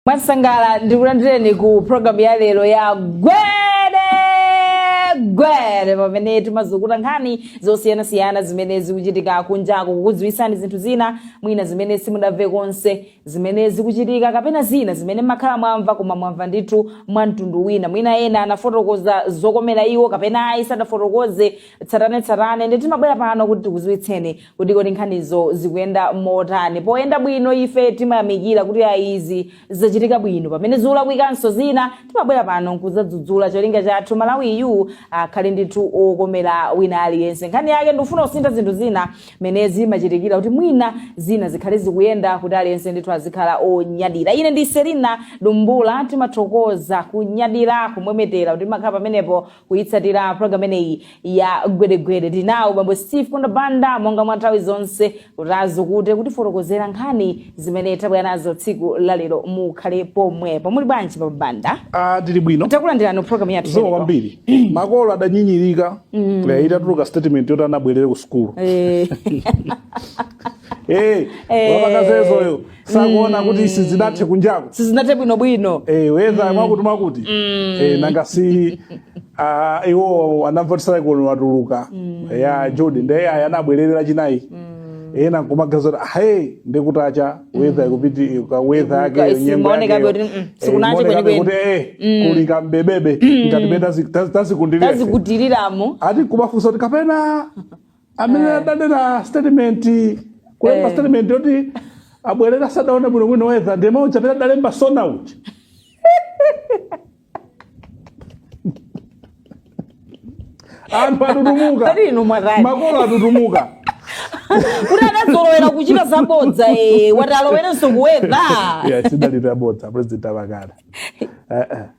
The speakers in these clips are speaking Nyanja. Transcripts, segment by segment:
mwansangala ndikulandireni ku programu ya lero ya gwere gwere pamene timazukuta nkhani zosiyanasiyana zimene zikuchitika kunjaku kukudziwitsani zinthu zina mwina zimene simudamve konse zimene zikuchitika kapena zina zimene makhala mwamva koma mwamva ndithu mwa mtundu wina mwina ena anafotokoza zokomera iwo kapena ayi sadafotokoze tsatanetsatane ndiye timabwera pano kuti tikuziwitseni kuti kodi nkhanizo zikuyenda motani poyenda bwino ife timayamikira kuti ayi izi zachitika bwino pamene zikulakwikanso zina timabwera pano nkuzadzudzula cholinga chathu malawiyu akhale ndithu okomera wina aliyense nkhani yake ndikufuna kusintha zinthu zina mene zimachitikira kuti mwina zina zikhale zikuyenda kuti aliyense ndithu azikhala onyadira ine ndi selina dumbula timathokoza kunyadira kumwemetera kuti mumakhala pamenepo kuyitsatira program imeneyi ya gwere gwere tinawo bambo steve kondabanda monga mwa nthawi zonse kuti azukute kutifotokozera nkhani zimene tabwera nazo tsiku lalero mukhale pomwepo muli bwanji bambo banda Ah, tili bwino takulandirani ku program yathu ya lero. zikomo kwambiri makolo adanyinyirika Eh, itatuluka statement yoti ana abwerere ku sukulu Eh, Eh, Eh. wapakazezoyo sakuona kuti sizinathe kunjaku sizinathe bwinobwino Eh, weather mwakuti mwakuti Eh, nanga si ah, iwo anamvotisala kuno watuluka ya judi nde aya anabwererera chinayi ena nkumaganiza kuti ahe ndikutacha wetha ikupiti ka wetha yake Ikuka- nyengo simaoneka yakeyo. kuti, mm, Eh, sikunache imaoneka kwenikweni. kuti, eh, kuli kambebebe ngati pena tazikundirira tazikutiriramu ati kuwafunsa kuti kapena amene Eh. adanena statement kulemba Eh. statement yoti abwerere asadaone bwino bwino weather ndi omwe aja amene adalemba sona uja anthu atutumuka Pali inu mwatani. makolo atutumuka kuti adazolowera kuchita zabodza eh, wati alowerenso ku weather yes idalira bodza president abakala Eh, eh.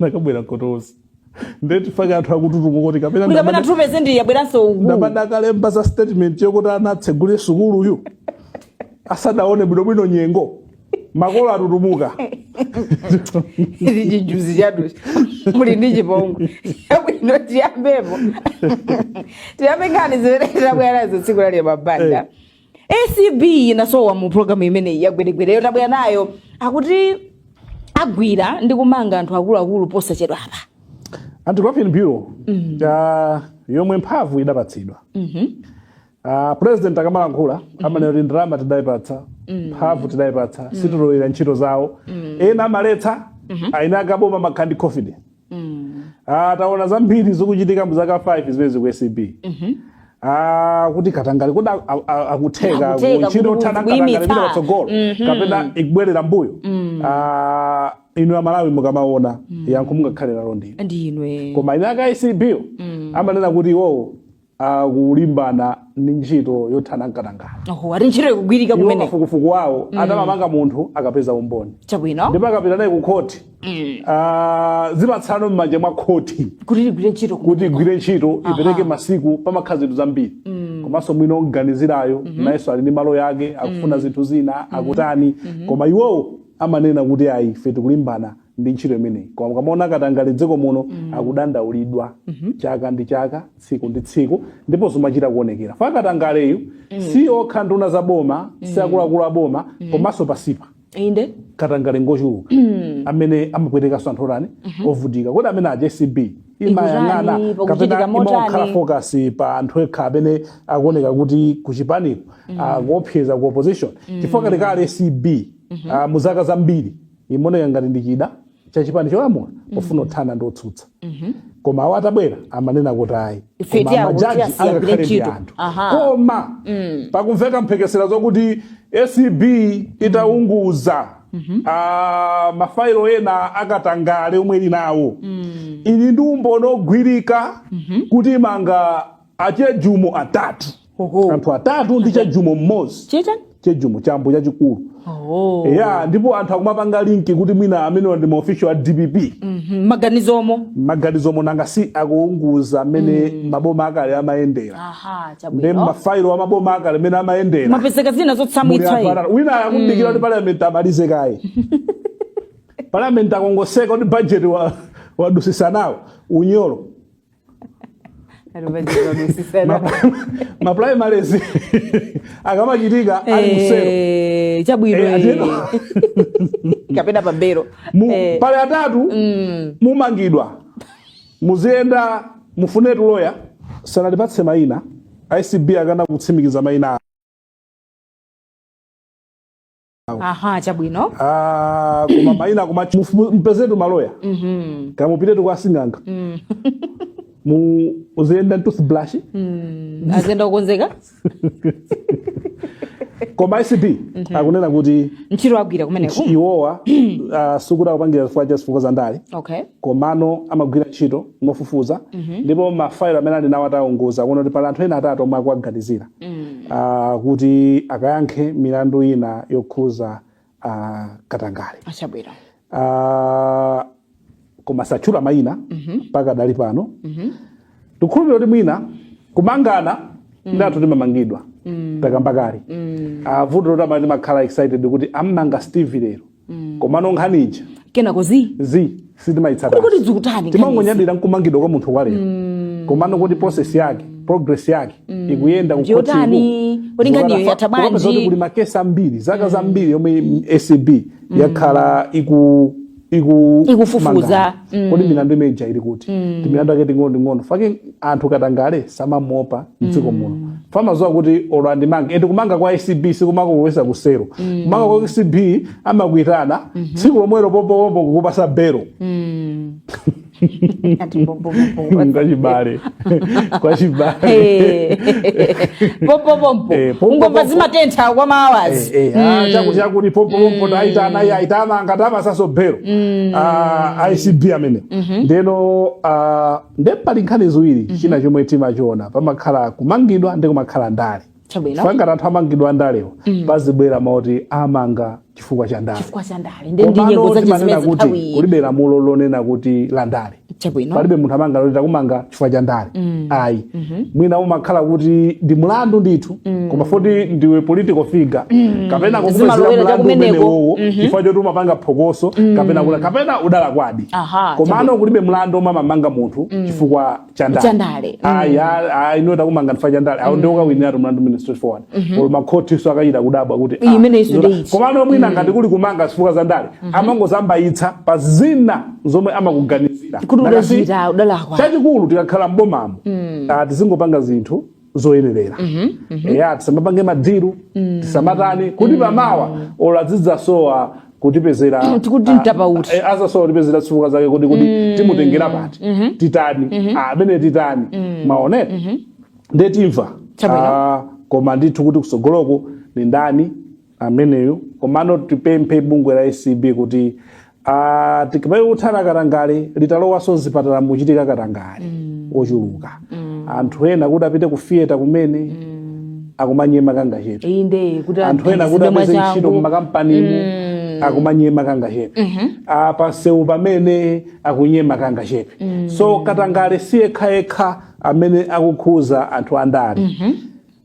nakabwera kotozi ndetifake anthu akututuko kuti kapena kuti kapena ndamada- tupeze ndi yabweranso uku adakalemba za statement yokuti ana atsegule sukuluyu asadaone bwinobwino nyengo makolo atutumuka ndi chijuzi chatuchi muli ndi chipongwe yabwino tiyambepo tiyambe nkhani zimene tabwerazo tsiku lali mabanda acb inasowa mu programu imeneyi yagweregwereyo tabwera nayo akuti agwira ndi kumanga anthu akuluakulu posachedwa apa anti corruption bureau ah, yomwe mphamvu idapatsidwa Ah, president akamalankhula amanena kuti ndalama tidayipatsa mphamvu tidayipatsa sitilowerera ntchito zawo ena amaletsa aina akaboma amakhala ndi confidence mm. ah, taona zambiri zikuchitika muzaka 5 zimene zi ku acb mm -hmm. Ah, kuti katangale kuti akutheka ntchito yothana ndi katangale ikupita patsogolo mhm. kapena ikubwerera mbuyo mm. ah, inu Amalawi mukamaona mm. yankho mungakhale nalo ndinu koma anthu a ku acb mm. amanena kuti iwowo akulimbana ndi ntchito yothana ndi katangale oho ati ntchito ikugwirika iwo kumene kafukufuku wawo akamamanga munthu akapeza umboni chabwino ndipo akapita naye ku khoti ah, zimatsala m'manja mwa khoti kuti ligwire ntchito ku- kuti igwire ntchito ipereke masiku pamakhala zinthu zambiri komanso mwina oganiziridwayo nayenso ali ndi maloya ake akufuna zinthu zina akutani koma iwowo amanena kuti ayi ife tikulimbana ndi ntchito imeneyi koma mukamaona katangale dziko muno akudandaulidwa chaka ndi chaka tsiku ndi tsiku ndipo zimachita kuonekera chifukwa katangaleyu si okha nduna za boma si akuluakulu a boma komanso pansipa inde katangale ngochuluka amene amapwetekanso anthu otani ovutika kodi amene aja acb imayang'ana Ikutani, kapena pakuchitika motani? imakhala focus pa anthu ekha amene akuoneka kuti kuchipaniko akuopseza ku opposition chifukwa kalekale acb ah, mu zaka zambiri imaoneka ngati ndi chida cha chipani cholamula pofuna kuthana ndi otsutsa koma awo atabwera amanena kuti ayi Ife koma tiyawo majaji tiwasiyire angakhale ndi ntchito. anthu Aha. koma pakumveka mphekesera zokuti acb itaunguza ah, mafailo ena akatangale omwe ili nawo ili ndi umboni ogwirika kuti imanga achejumo atatu Oho. anthu atatu ndi chejumo mmodzi Chicha? chejumo chambo chachikulu Oh. ya ndipo anthu akumapanga linki kuti mwina amenewa ndi maofficial a dpp Mhm. Maganizomo. maganizo mmm nanga si akuunguza amene maboma akale amayendera Aha, ndi chabwino. mafailo a maboma akale amene amayendera mwapezeka zina Muli zotsamwitsa anthu inu. atatu. wina akudikira kuti parliament amalize kaye parliament akangotseka kuti budget wa- wadutsitsa nawo unyolo maprimaries akamachitika ali ku selo Eh, chabwino Eh, eh. atero. kapena pa belo Mu- Eh, pali atatu mm, mumangidwa muziyenda mufune tuloya sanatipatse mayina acb akana kutsimikiza mayina aha chabwino Ah, koma maina koma mpezetu maloya Mhm. kapena mupitetu kwa sing'anga Mm. muziyenda ndi toothbrush Mm. aziyenda kukonzeka koma acb akunena kuti ntchito agwira kumeneko iwowa ah, sikuti akupangira chifukwa cha zifukwa za ndale okay komano amagwira ntchito mofufuza ndipo mafailo amene ali nawo ataunguza kuona kuti pali anthu ena atatu omwe akuwaganizira Mm. ah, kuti akayankhe milandu ina yokhuza ah, katangale Achabwino. Ah, koma satchula mayina mpaka tili pano tikhulupirira kuti mwina kumangana ndatu timamangidwa takamba kale Ah, vuto loti timakhala excited kuti ammanga steve lero komano nkhani ija kenako zi zi Kodi sitimaitsata kuti zikutani timangonyadira nkumangidwa kwa munthu kwalero komano kuti process yake progress yake ikuyenda Kuti yotani? Kuti nkhaniyo yatha bwanji? kuti kuli makesi ambiri zaka zambiri yomwe acb yakhala iku iku Ikufufuza. mangana. mm. kodi milandu imene ija ili kuti mm. ndi milandu yake ing'onoing'ono chifukwa chake anthu katangale samamuopa mdziko mm. muno chifukwa amadziwa kuti olo andimange ende kumanga kwa acb sikumakulowesa kusero mm. kumanga kwa acb amakuitana mm -hmm. tsiku lomwelo popopopo kukupasa belo mm. kwa chibale kwa chibale Eh. pompo pompo Eh, pompo, ngomba pompo. zimatentha kwa maawazi Eh, eh, ah, chakuti chakuti pompopompo aitana iye aitana ngati amasainaso belo Ah, acb amene ndeno ah, nde pali nkhani ziwiri china chomwe timachiona pamakhala kumangidwa ndi kumakhala ndale chabwino chifukwa ngati anthu amangidwa andalewo pazibwera mawu oti amanga chifukwa cha ndale chifukwa cha ndale nde ndi nyengo komano zake timanena zimenezi kuti nthawi iyi kulibe lamulo lonena kuti la ndale chabwino palibe munthu amanga loti takumanga chifukwa cha ndale ayi mwina umakhala kuti ndi mlandu ndithu koma poti ndiwe political figure kapena kukupezera Zimalowera mlandu chakumeneko. umenewowo chifukwa choti umapanga phokoso kapena kuti kapena udalakwadi Aha, komano kulibe mlandu omwe amamanga munthu chifukwa chandale Chandale, mm. ayi a- ayi ino takumanga chifukwa chandale awo nde ukawiniratu mlandu umene straight forward olo makhotiso akachita kudabwa kuti Iyi ah, imene isu zota- nde ichi. komano mwina ngati kuli kumanga zifukwa za ndale amangozambayitsa pa zina zomwe amakuganizira Kuti Nakasi- udachita, udalakwa. chachikulu tikakhala mbomamo ah, tizingopanga zinthu zoyenerera mhm, mhm. eya tisamapange madiru mm. tisamatani kuti mm. pamawa olo azidzasowa kutipezera mm, tikuti potapa uti eh, azasowa kutipezera zifukwa zake kuti kuti mm. timutengere pati mm -hmm. titani mm -hmm. amene ah, titani mm. mwaona mm -hmm. nde timva ah, koma ndithu kuti kutsogoloko ndi ndani ameneyo komano tipemphe bungwe la acb kuti Ah, tikamati kuthana katangale litalowenso mzipatala mukuchitika katangale ochuluka anthu ena kuti apite ku theatre kumene akumanyema kangachepe iyi nde kuti anthu ena kuti aphunzitsidwe apeze ntchito mwachangu. mmakampanimo akumanyema kangachepe pansewu pamene akunyema kangachepe so katangale si yekhayekha amene akukhuza anthu andale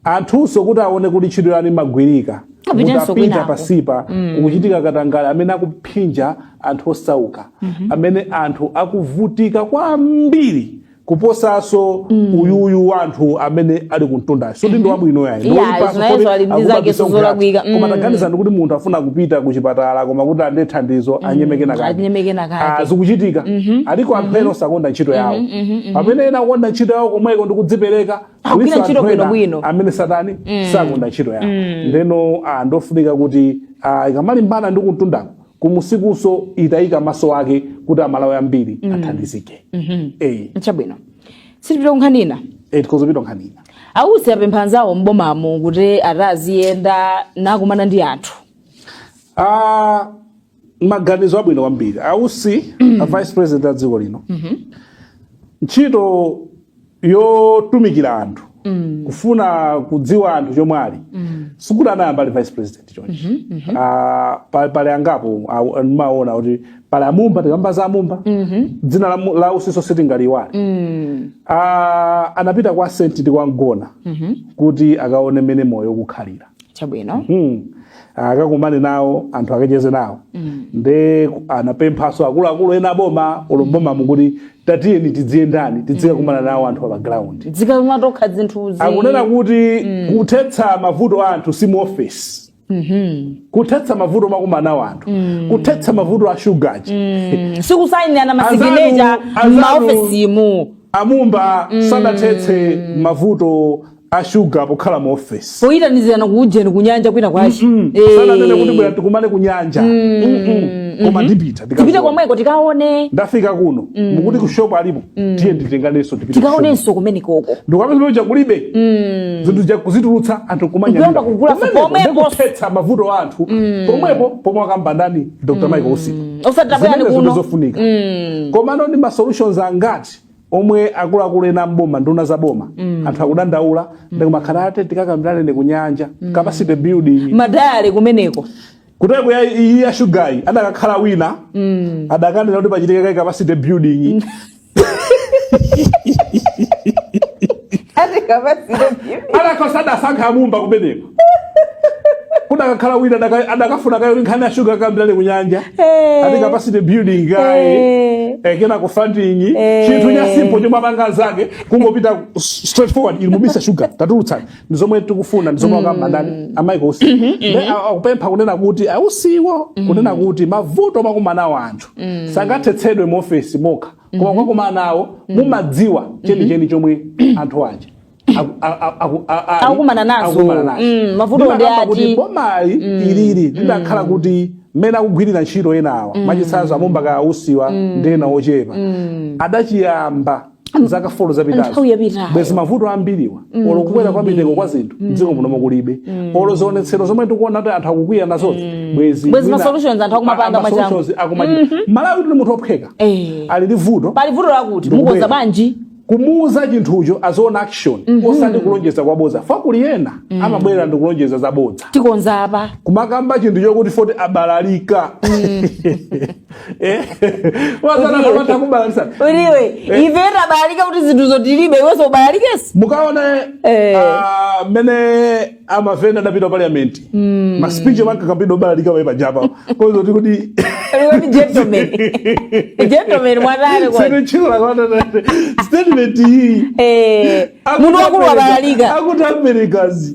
Anthunso kuti aone kuti ntchito yanu imagwirika, Apitenso mutapita kwinako. pasipa kukuchitika katangale amene akuphinja anthu osauka, amene anthu akuvutika kwambiri kuposanso uyuyu wa anthu amene ali kumtundayo soti ndi wabwino yayi ndi Yeah, woyipanso, zinayezo soti ali ndi akuba zake bisonkhera. sizolakwika. koma Mm. taganizani kuti munthu afuna kupita ku chipatala koma kuti alandire thandizo anyemeke kenakake anyemeke kenakake. Ah, zikuchitika aliko anthu ena osakonda ntchito yawo pamene ena akukonda ntchito yawo komweko ndi kudzipereka Agwira Alinso ntchito anthu ena bwinobwino. amene atani sakonda ntchito yawo ndeno ah, ndofunika kuti ah, ikamalimbana ndi kumtundako kumunsikunso itayika maso ake kuti amalawi ambiri athandizike Eh, chabwino tipite kunkhani ina eh, tikadzapita nkhani ina ausi apempha anzawo m'bomamo kuti atadziyenda nakumana ndi anthu Ah, maganizo abwino kwambiri ausi a vice president a dziko lino ntchito yotumikira anthu kufuna kudziwa anthu chomwe ali sikuti anayamba ali vice president chonchi Ah, pa- pali angapo aw- ndimaona kuti pali amumba tikamba za amumba dzina la mu- la Usinso sitingaliiwale Ah, anapita kwa senti ndi kwa mgona kuti akaone mmene moyo ukukhalira chabwino Hmm. akakumane nawo anthu akacheze nawo nde anapemphaso akuluakulu ena a boma olo m'bomamo kuti tatiyeni tidziyendani tidzikakumana nawo anthu pa ground tidzikaona tokha zinthuzi akunena kuti kuthetsa mavuto a anthu si mu office kuthetsa mavuto makumana nawo anthu kuthetsa mavuto a shugayi sikusayinirana masiginecha Anzanu- anzanu- m'maofesimu amumba sadathetse mavuto a shuga pokhala mu ofesi poyitanizirana ku ujeni ku nyanja kwinakwake sananene kuti bwera tikumane ku nyanja Mm-mm. koma ndipita tipite ndikaziona. komweko tikaone ndafika kuno mukuti ku shop alipo tiye nditenganenso tipite ku shop. tikaonenso kumenekoko ndikapeza zimene zakulibe zinthu zakuzitulutsa anthu Kuyamba kugula pomwepo. ndikuthetsa mavuto a anthu pomwepo pomwe akamba ndani dr michael usi osati tabwera ndi Zimenezo kuno ndizofunika komano ndi ma solutions angati omwe akuluakulu ena m'boma nduna za boma anthu akudandaula ndikumakhala ati tikakambirane kunyanja capacity building madale kumeneko kuteko ya iyi ya shugayi adakakhala wina adakanena kuti pachitike kaye capacity building ati kapasire adakhosa adasankha amumba kumeneko kudakakhala wina adaka- adakafuna kaye nkhani ya shuga akambirane kunyanja Eh. ati capacity building kaye Eh. eh, kenako funding Eh. chinthu cha simple chomwe apanga anzake kungopita s- straight forward ili mubisa shuga tatulutsani ndi zomwe tikufuna ndi zomwe akamba ndani a michael usi Then a- akupempha kunena kuti ausiwo kunena kuti mavuto makumana nawo anthu sangathetsedwe mu ofesi mokha koma mukakumana nawo mumadziwa chenicheni chomwe anthu aja aku- a- a- aku- a- ali- Akukumana nazo. akukumana nazo. Mm, mavuto ndi Ndimakamba ati. kuti bomayi ilili lidakhala kuti mmene akugwirira ntchito enawa machitsanzo a Mumba ka a Usiwa ndi ena ochepa adachiyamba zaka folo zapitazo Nthawi yapitayo. bwezi mavuto ambiriwa olo kukwera kwa mitengo kwa zinthu dziko muno kulibe olo zionetsero zomwe tikuona kuti anthu akukwiya nazozi bwezi Bwezi ma mwina- solutions anthu akumapanga a- ma mwachangu. solutions akumachita. Malawi tili munthu ophweka Eh. ali ndi vuto pali vuto lakuti Ndikubwera. mukonza bwanji kumuuza chinthucho azione action mm -hmm. osati kulonjeza kwa bodza chifukwa kuli ena mm -hmm. amabwera ndi kulonjeza za bodza tikonza apa kumakamba chinthu chokuti oti abalalika mm. eh? wazanakamata kubalalitsa uliwe eh? ife tabalalika kuti zinthu zo tilibe iwenso ubalalikenso mukaone eh. uh, mmene a MAFENDA adapita parliament mm. maspeech omwe ankakambidwa obalalika pali paja pakazati kuti Iwe ni gentleman. Gentleman mwadhani kwa. sinochila kwana statement iyi Eh, munthu wakulu wabalalika. akuti americans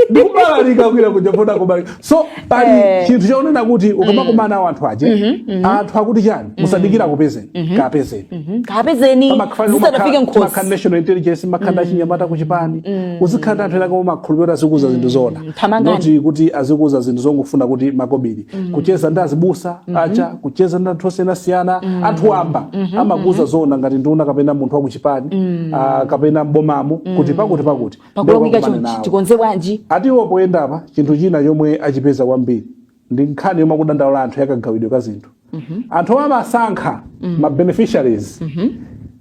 ndikubalalika kwira kuja kuna kubalalika so pali Eh. chinthu chomwe akunena kuti ukamakumana nawo anthu aja anthu akuti chani mm. musadikira akupezeni mm -hmm. kapezeni mm -hmm. kapezeni zisanafike m'khosi timakhala national intelligence timakhala mm. achinyamata ku chipani mm. uzikhala ndi anthu ena koma owakhulupirira azikuuza mm. zinthu zoona not kuti azikuuza zinthu zongofuna kuti makobiri mm. kucheza ndi azibusa mm -hmm. aja kucheza ndi anthu osiyanasiyana mm. anthu wamba mm -hmm. amakuuza mm-hmm. zoona ngati nduna kapena munthu wa ku chipani mm. uh, kapena mbomamo mm. kuti pakuti pakuti pakuti tikonze bwanji ati iwo poyendapa chinthu china chomwe achipeza kwambiri ndi nkhani yomwe akudandaula anthu yakagawidwe ka zinthu anthu omwe amasankha ma beneficiaries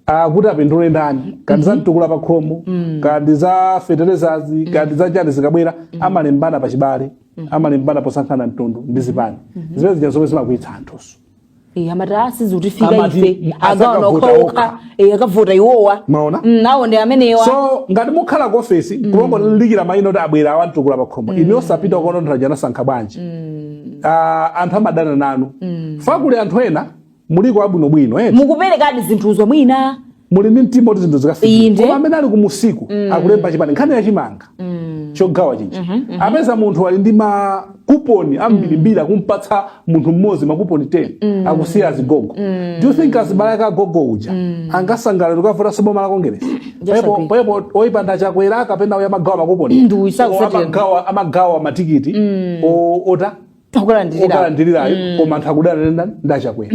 ah, kuti apindule ndani kaya ndi za mtukula pa khomo kaya ndi za feterezazi kaya ndi za chani zikabwera amalembana pa chibale amalembana posankhana mtundu ndi zipani zimene zija zomwe zimakwiyitsa anthunso Eh, amati ah sizikutifika Amati, ife mm, akaona asakavote okhaokha okha. Eh, akavota iwowa Mwaona? Mm, nawo ndi amenewa so ngati mukhala ku ofesi kumangodikira mayina oti abwera awa a mtukula pa khomo inu osapita kuona anthu aja anasankha bwanji Ah, anthu amadana nanu chifukwa kuli anthu ena muliko abwinobwino eti mukuperekadi zinthuzo mwina muli ndi mtima kuti zinthu zikafike Inde. koma amene ali kumunsiku akulemba chipani nkhani ya chimanga chogawa chija apeza munthu ali ndi makuponi ambirimbiri akumpatsa munthu mmodzi makuponi 10 akusiya azigogo do you think azibale ake agogo uja angasangalale kukavota so boma la kongeresi people agree. people oyipa ndi a Chakwera kapena uyu amagawa makuponi Ndi uyu, sakusatira. amagawa amagawa matikiti o- ota Akukalandirira. okalandirirayo koma anthu akudana ndi a ndi a Chakwera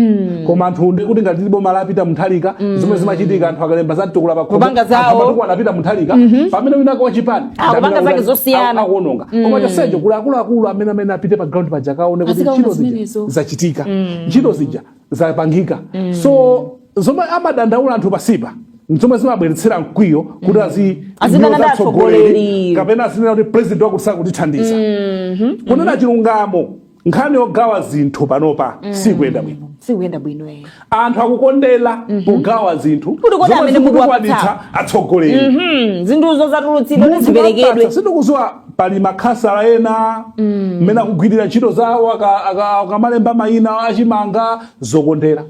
koma anthu ndi kuti ngati boma lapita mu tariki zomwe zimachitika anthu akalemba za mtukula pa khomo, Kupanga zawo. anthu a mtuku anapita mu tariki pamene winawake wachipani Ah, kupanga zake zosiyana. akuononga koma chonsecho kuli akuluakulu amene amene apite pa ground paja akaone kuti Azikaona ntchito zija zimenezo. zachitika ntchito zija zapangika mm. so zomwe amadandaula anthu pansipa ndi zomwe zimabweretsera mkwiyo kuti mm. azi Azidana ndi atsogoleri. kapena azinena kuti president wakuti sakutithandiza kunena chilungamo nkhani yogawa zinthu panopa sikuyenda bwino sikuyenda bwino eh. anthu akukondera pogawa zinthu Kuti kodi zomwe amene mukuwapatsa. zikutukwanitsa atsogoleri Mhm, zinthuzo zatulutsidwa Munthu ziperekedwe wapatsa, sindikuziwa pali makhasala ena mmene akugwirira ntchito zawo aka- aka- akamalemba mayina achimanga zokondera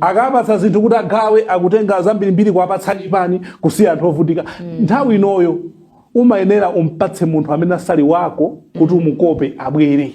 akapatsa zinthu kuti agawe akutenga zambirimbiri kuwapatsa achipani kusiya anthu ovutika nthawi inoyo umayenera umpatse munthu amene asali wako kuti umukope abwere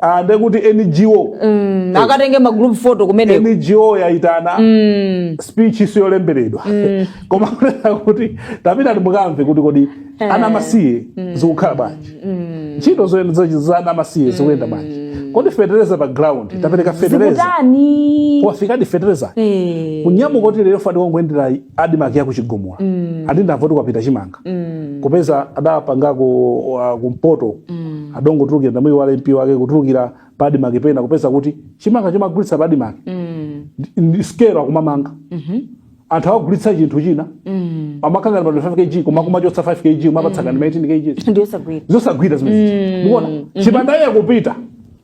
Ah, ndekuti NGO Mm, akatenge ma group photo kumeneko NGO yaitana Mm, speech yolemberedwa koma kunena kuti tapita timukamve kuti kodi ana amasiye zikukhala bwanji ntchito zoyenda za- za ana amasiye zikuyenda bwanji kodi fetereza pa ground tapereka fetereza zikutani wafikadi fetereza Eh. kunyamuka kuti lero ndangoyendera adimaki yakuchigumula ndamva kuti kwapita chimanga mm. kupeza adapangako, uh, kumpoto mm. adongotulukira ndamuyi wa mp wake kutulukira pa adimaki pena kupeza kuti chimanga chomagulitsa pa adimaki mm. ndi skelo akumamanga mm -hmm. anthu akugulitsa chinthu china mm. amakana pa 5 kg koma kumachotsa 5 kg kumapatsa mm. kani 18 kg ndiyosagwira zosagwira zimene mm. mukuona mm -hmm. chipanda iye kupita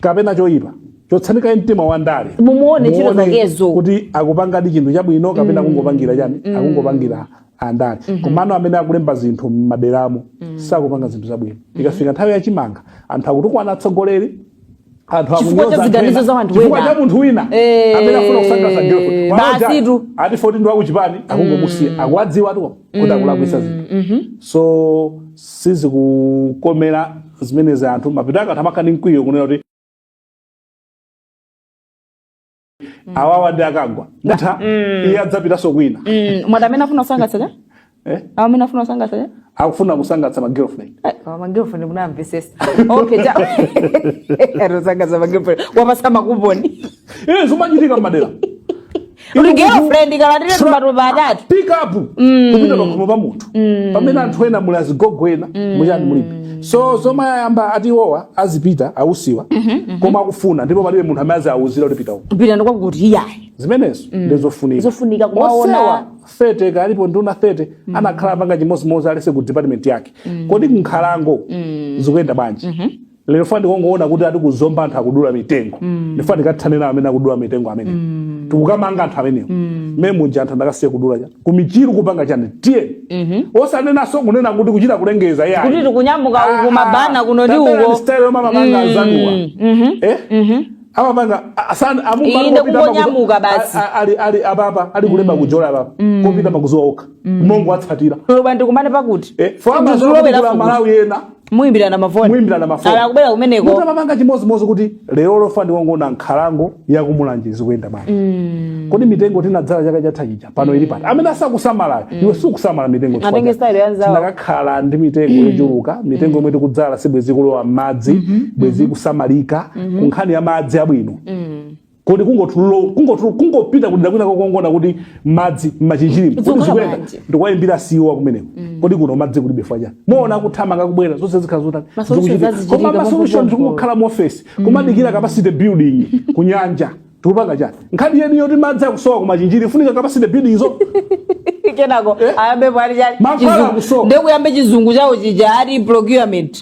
kapena choyipa chotsani kaye mtima wa ndale Mumuone ntchito Muone zakezo. kuti akupangadi chinthu chabwino kapena akungopangira chani akungopangira andale komano amene akulemba zinthu m'maderamo sakupanga zinthu zabwino ikafika nthawi ya chimanga anthu akutukwana atsogoleri anthu Chifukwa akunyoza cha anthu ziganizo ena, za anthu chifukwa ena. cha munthu wina Eh, amene afuna kusangalatsa girlfriend. Waloja, basitu. ati 14 ndi wakuchipani akungomusiya akuwadziwatu kuti akulakwisa zinthu Mhm. so sizikukomera zimenezi anthu mapeto ake anthu amakhala ndi mkwiyo kunena kuti awawa ndi akagwa ndatha iye adzapitanso kwina Mm, mwati amene afuna kusangalatsa cha eh? awo amene afuna kusangalatsa cha akufuna kusangalatsa ma girlfriend magirlfriend munamvesesa okay cha akusangalatsa magirlfriend wapasa makuponi iye zimachitika mmadera uli girlfriend kalandire Sura- matumba atatu pick up kupita pakhomo pa munthu pamene anthu ena muli azigogo ena muchani mulibe so zomwe ayamba ati iwowa azipita abusawa koma akufuna ndipo palibe munthu amene aziauzira kuti pita uko pita kwakuti iyayi zimenezo ndizofunika Zofunika kumaona. Onsewa 30 akalipo nduna 30 anakhala akupanga chimodzimodzi aliyense ku department yake kodi kunkhalango zikuyenda bwanji lero ndifuna ndikangoona kuti ati ku Zomba anthu akudula mitengo mm. ndifuna tikathane nawo amene akudula mitengo amene mm. tikukamanga anthu amenewo mm. mmene muja anthu anakasiya kudula chani ku Michiru kupanga chani tiye mm-hmm. osanenanso kunena kuti kuchita kulengeza kuti yayi tikunyamuka uku tabwera kuno ndi uko style yomamapanga azanuwa eh amapanga asana amumba Inde kupita makuzo- kungonyamuka basi. a- a- ali ali ababa ali kulemba kujola ababa kopita makuzuwa okha mongo atsatira lobwa ndikumane pakuti eh fama Ndi zolowera zolowera futi. maulendo ena muyimbirana mafoni Muyimbirana mafoni. ala kubwera kumeneko kuti amapanga chimodzimodzi kuti lerolo ndifuna ndikangoona nkhalango ya ku Mulanje zikuyenda bwanji kodi mitengo tinadzala chaka chatha chija pano ili pati amene asakusamalayo iwe sukusamala mitengo chifukwa Atenge chake. style ya nzawo. tinakakhala ndi mitengo yochuluka mitengo yomwe tikudzala si bwenzi ikulowa m'madzi bwenzi ikusamalika ku nkhani ya madzi abwino kodi kungotululo- kungotulu- kungopita kudera kwina kukangoona kuti madzi m'Machinjirimo kodi Zikukhala zikuyenda bwanji? ndi kuwayimbira awa kumeneko kodi kuno madzi kulibe fwacha muwona akuthamanga kubwera zonse zikhala zotani Ma solutions zikuchitika. azichitika koma ma pafupi solutions pafupi. kungokhala mu office kumadikira capacity building ku nyanja tikupanga chani nkhani yeni yoti madzi akusowa ku Machinjiri ikufunika capacity building zo kenako ayambe pali chani mankhwala Chizungu. akusowa ndekuyambe chizungu chawo chija ati procurement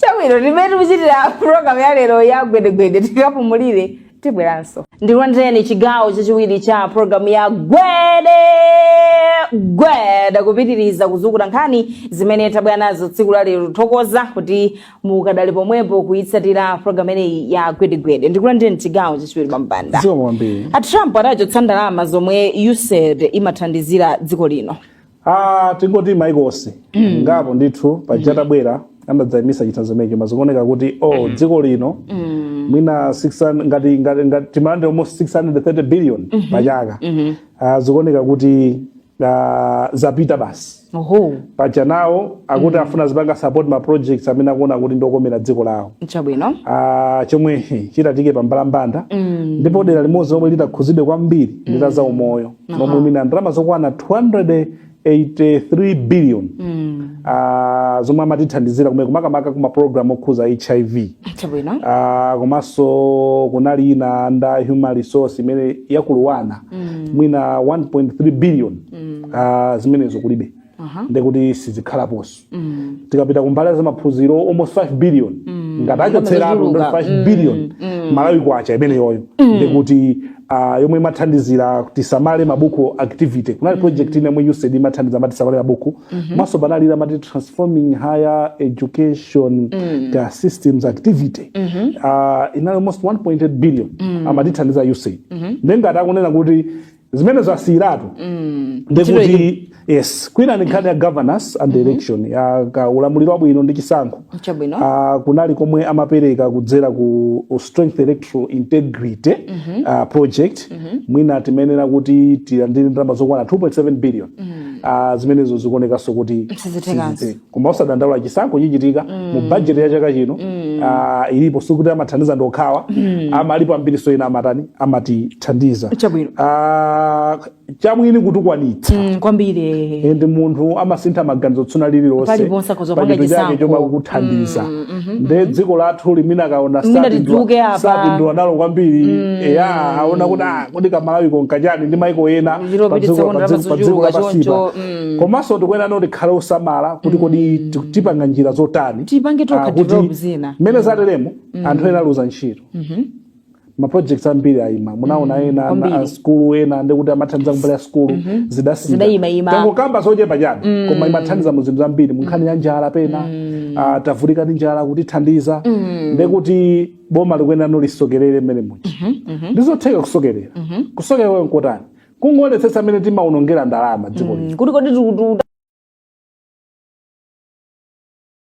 chabwino ndi mmene tikuchitira program ya lero ya gwedegwede tikapumulire tibweranso ndikulandireni chigawo chachiwiri cha program ya gwede gwede kupitiriza kuzukuta nkhani zimene tabwera nazo tsiku la lero tithokoza kuti mukadali pomwepo kuyitsatira programu imeneyi ya gwedegwede ndikulandireni m'chigawo chachiwiri pambalambanda dziko kwambiri a trump adachotsa ndalama zomwe usaid imathandizira dziko lino Ah, tingoti maiko si ngapo ndithu paja atabwera anadzayimitsa chithandizo chimenecho koma zikuoneka kuti o dziko lino mwina 600 ngati ngati ngati timalandira almost 630 billion pachaka Ah, zikuoneka kuti Ah, zapita basi oho paja iwowo akuti afuna azipanga support ma projects amene akuona kuti ndi okomera dziko lawo chabwino Ah, chomwe he, chitatike pa mbalambanda ndipo dera limodzi lomwe litakhudzidwe kwambiri ndi la za umoyo lomwe mwina ndalama zokwana 283 billion Ah, zomwe amatithandizira kumene makamaka kuma program okhudza hiv chabwino Ah, komanso kunali ina ya human resource imene ikukwana mm. mwina 1.3 billion mm. uh, zimenezo kulibe uh -huh. ndekuti sizikhalaponso mm. tikapita kumbali ya maphunziro almost 5 billion mm. ngati achotseratu 5 mm. billion mm. mm. malawi kwacha imeneyoyo mm. ndekuti uh, yomwe imathandizira tisamale mabuku activity kunali mm. project ina yomwe usaid imathandiza ma tisamale mabuku Mhm. komanso panali ya amati transforming higher education mm. ka systems activity mm -hmm. uh, inali almost 1.8 billion mm. amatithandiza usaid mm -hmm. nde ngati akunena kuti zimene zasiyiratu mm. ndekuti yes kwina ni nkhani ya governance and election mm -hmm. ka ulamuliro wabwino ndi chisankho Chabwino. uh, kunali komwe amapereka kudzera ku strength electoral integrity mm -hmm. uh, project mwina timayenera kuti tilandire ndalama zokwana 2.7 billion Ah, zimenezo zikuonekanso kuti Sizithekanso. sizithe. koma musadandaule chisankho chichitika mu bajeti ya chaka chino ah, ilipo sikuti amathandiza ndi okhawa amayiko ambirinso ena amatani amatithandiza Chabwino. Ah, chamwini chimakwanitsa Mm, kwambiri eh. and munthu amasintha maganizo tsiku lina lililonse Paliponse akhoza kupanga pachinthu chake chisankho. chomwe akuthandiza nde dziko lathu limene akaona Mwina sapindula- tidzuke apa. sapindula nalo kwambiri eya aona kuti ah, kodi kamalawi konkachani ndi maiko ena Ndilo pa piti dziko- sekondari pa dziko- pa dziko apazochuluka lapansipa. choncho, mm. komanso tikuyenera kuti tikhale osamala kuti kodi ti- tipanga njira zotani Tipange tokha Ah, kuti develop zina. mmene zateremu anthu ena aluza ntchito maprojects ambiri ayima munaona Mm, ena kwambiri. ana- a skulu ena ndekuti amathandiza kumbali ya skulu zidasintha Zidayimayima. tangokamba zochepa chabe koma imathandiza mu zinthu zambiri mu nkhani ya njala pena ah, tavutika ndi njala kutithandiza ndekuti boma likuyenera nalo lisokerere mmene muja ndizotheka kusokerera kusokerera kwake nkotani kungoonetsetsa mmene timaonongera ndalama dziko lino kuti kodi tiku-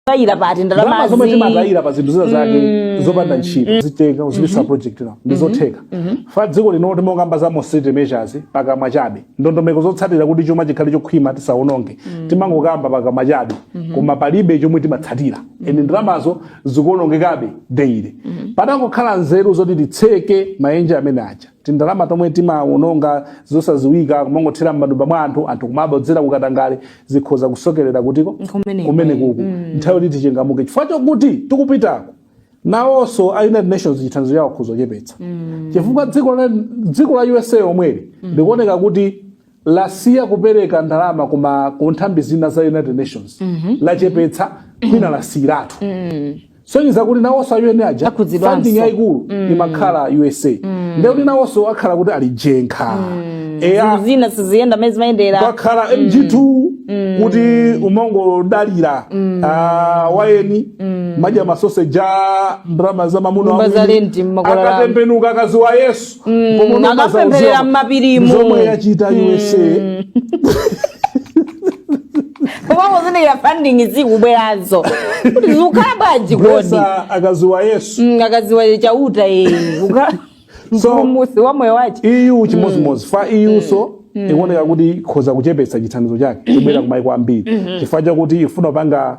tayira pati ndalama zomwe ndalamazi timatayira pa zinthu zina zake zopanda ntchito kutenga kuzipatsa project nazo ndizotheka fa dziko lino timangokamba za austerity measures pakamwa chabe ndondomeko zotsatira kuti chuma chikhale chokhwima tisaononge timangokamba pakamwa chabe koma palibe chomwe timatsatira ende ndalamazo zikuonongekabe daily patangokhala nzeru zoti titseke maenje amene aja tindalama tomwe timawononga zosaziwika kumangothera m'matumba mwa anthu anthu kumabodzera kukatangale zikhoza kusokerera kuti ko Kumeneko. kumenekuku nthawi yoti tichangamuke chifukwa chokuti tikupitako nawonso a united nations chithandizo chawo akhoza kuchepetsa chifukwa dziko la dziko la usa omweli likuoneka kuti lasiya kupereka ndalama kuma ku nthambi zina za united nations lachepetsa kwina lasiyiratu sonyeza kuti nawonso a UN aja Akhudzidwanso. funding yayikulu imakhala usa ndiye kuti nawonso akhala kuti ali jenkha eya zinthu zina siziyenda mmene zimayendera kwakhala mg2 kuti umangodalira ah, tiyeni kumadya masoseji ndalama za mamuna Nyumba za wamwini. lenti akulipira iwo. akatembenuka akazi wa yesu Mm, Pomwe unokaza akapempherera uziwa- m'mapirimu. zomwe yachita usa koma kuzindikira funding zikubwerazo kuti zikukhala bwanji kodi Mesa akaziwa yesu Mm, akaziwa chauta iyi So- mpulumusi wa moyo wace eu chimodzimodzi fa eu nso ikuoneka kuti ikhoza kuchepetsa chithandizo chake kubwera kumaiko ambiri chifukwa chakuti ifuna kupanga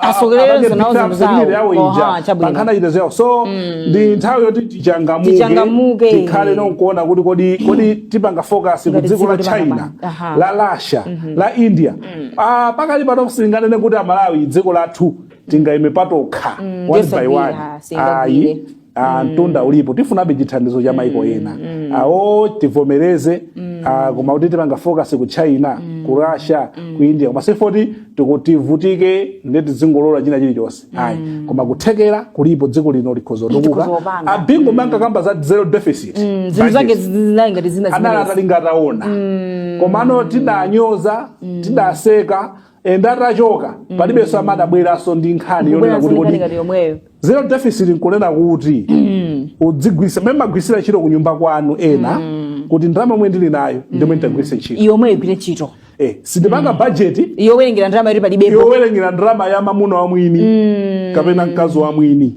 asogoleze nawo zinthu pankhani ya chitetezo so mm. ndi nthawi yoti tichangamuke tikhale nkuona kuti kodi tipanga focus ku dziko la china la russia mm-hmm. la india mm. ah, pakali pano sitinganene kuti amalawi dziko lathu tingaime patokha mm, one by one ayi ah, mm. mtunda ulipo tifunabe chithandizo cha maiko mm. ena mm. awo ah, tivomereze mm. ah, koma kuti tipanga focus ku china mm. ku russia mm. ku india koma sifoti tikuvutika nde tizingolola china chilichonse mm. ayi koma kuthekera kulipo dziko lino likhoza kutukuka a bingu mm. amankakamba za zero deficit mm. zinthu zake zinali ngati zina anali atali ngataona mm. komano tidanyoza mm. tidaseka and atachoka mm. palibenso amene adabweranso ndi nkhani yonena kuti kodi zero deficit nkunena kuti mm. udzigwiritsa mmene mumagwiritsira ntchito ku nyumba kwanu ena mm. kuti ndalama yomwe ndili nayo ndi yomwe nditagwiritse ntchito yomweyo igwire ntchito Eh, sindipanga mm. budget yowerengera ndalama yoti palibepo yowerengera ndalama ya mamuna wa mwini mm. kapena mkazi wa mwini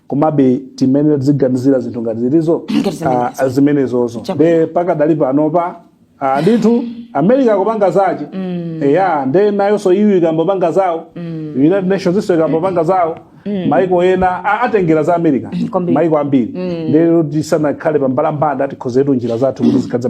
komabe timayenera tiziganizira zinthu ngati zilizo Ngati zimenezo. ah, zimenezozo Chabwino. nde pakadali panopa ah, ndithu america kupanga zace eya nde nayonso eu ikambopanga zawo united nations iso ikambopanga zawo maiko ena a- atengera za america kwambiri. maiko ambiri lero tisanakhale pambalambanda tikonzetu njira zathu kuti zikhadza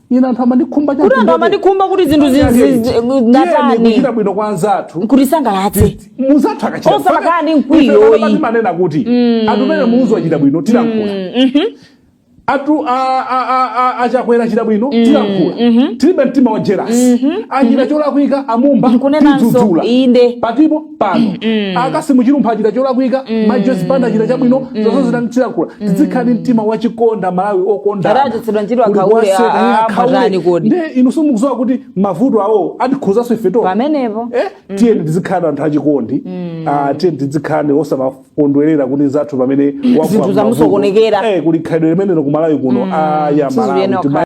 ina anthu amandikhumba kuti anthu amandikhumba kuti zinthu zi- zi- zi- tiyeni ndatani kuchita bwino kwa anzathu kutisangalatse mnzathu akachita Osakhala ndi mkwiyo, ayi. timanena kuti atupele muluzi achita bwino tilankhula atu a- a- a- a- a chakwera achita bwino tilankhula tilibe mtima wa jerasi achita cholakwika a mumba Nkunenanso, tidzudzula inde. patipo pano a kassim chilumpha achita cholakwika mai joyce banda achita chabwino zonsezi tilankhula tidzikhala ndi mtima wachikonda malawi Adaachotsedwa okondana ntchito Kuli akhaule, konse, a- a- akhaule. ambatani kodi. Ndiye inu simukudziwa kuti mavuto awo atikhuzanso ife tokha pamenepo eh, tiyeni tizikhala anthu achikondi ah, tiyeni tizikhala osamakondwerera kuti nzathu pamene wagwa Zinthu m'mavuto. zamusokonekera. eh, kuli khalidwe limenelo ku malawi kuno aya Sizikuyenera malawi kukhala.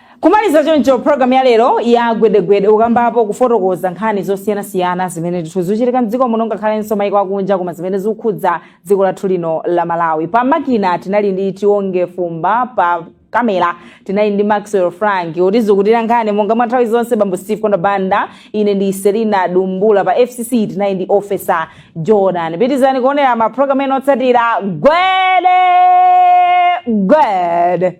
Kumaliza choncho program ya lero ya gwedegwede kukambapo kufotokoza nkhani zosiyanasiyana zimene ndithu zikuchitika mdziko muno ngakhalenso maiko akunja koma zimene zikukhudza dziko lathu lino la malawi pa makina tinali ndi tionge fumba pa kamera tinali ndi maxwell frank kutitsutira nkhani monga mwa nthawi zonse bambo steve kondwa banda ine ndi selina dumbula pa fcc tinali ndi officer jordan pitirizani kuonera maprogramu ena otsatira gwede gwede